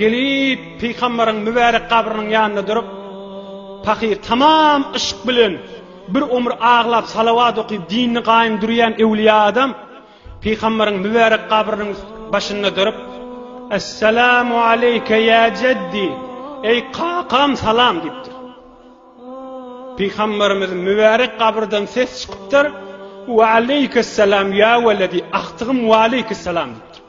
Gelip, pygamberiň mübärek gabrynyň ýanynda durup, pahyr tamam yşk bilen bir omur aglap, salawat okyp, dinini gaýym durýan öwliýa adam pygamberiň mübärek gabrynyň başynda durup, Essalamu aleýke ýa jeddi, eý kakam salam diýipdir. Pygamberimiziň mübärek gabrydan ses çykypdyr, Wa aleýkes salam ýa weledi, agtygym wa aleýkes salam diýipdir.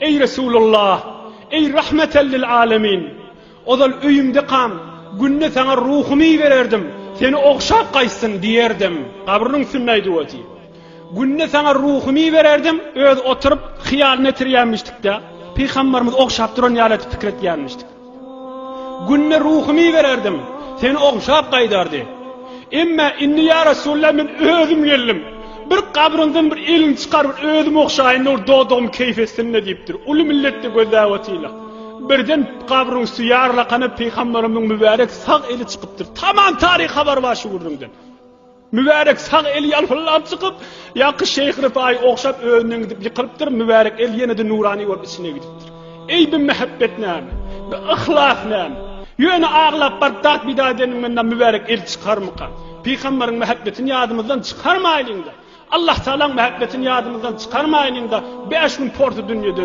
Eý Resulullah! Eý Rahmeten lil alemin! Ozal öýümdekam, günde saňa ruhumy ibererdim, seni ogşap gaýtsyn diýerdim. Gabrynyň üstünde aýdyp otyr. Günde saňa ruhumy ibererdim, özi oturyp, hyýalyny ýetirýänmişdik-de, pygambarymyzy ogşap duran ýaly edip pikir etýänmişdik. Günde ruhumy ibererdim. Seni ogşap gaýdardy. Emma indi ýa Resulallah men özüm geldim. Bir gabryňdan bir eliňi çykar bir özüm ogşaýynda bir dodagym keýp etsinle diýipdir. Uly milletde gözläp otyrlar. Birden gabryň üsti ýarlakana pygamberimiň mübärek sag eli çykypdyr. Tamam taryh habar bar şu gürrüňden. Mübärek sag eli ýalpyldap çykyp, ýaky şeýh Ryfaýy ogşap özünden gidip ýykylypdyr, mübärek el ýene-de nurany bolup içine gidipdir. Eý bi mähebbet näme? Bi yhlas näme? Ýöne aglap baryp dat pida edeniňden-de mübärek el çykarmyka? Pygamberiň mähebbetini ýadymyzdan çykarmaýlyň-da! Allahtagalaň mähebbetini ýadymyzdan çykarmaýlyň-da, bäş gün porsu dünýede.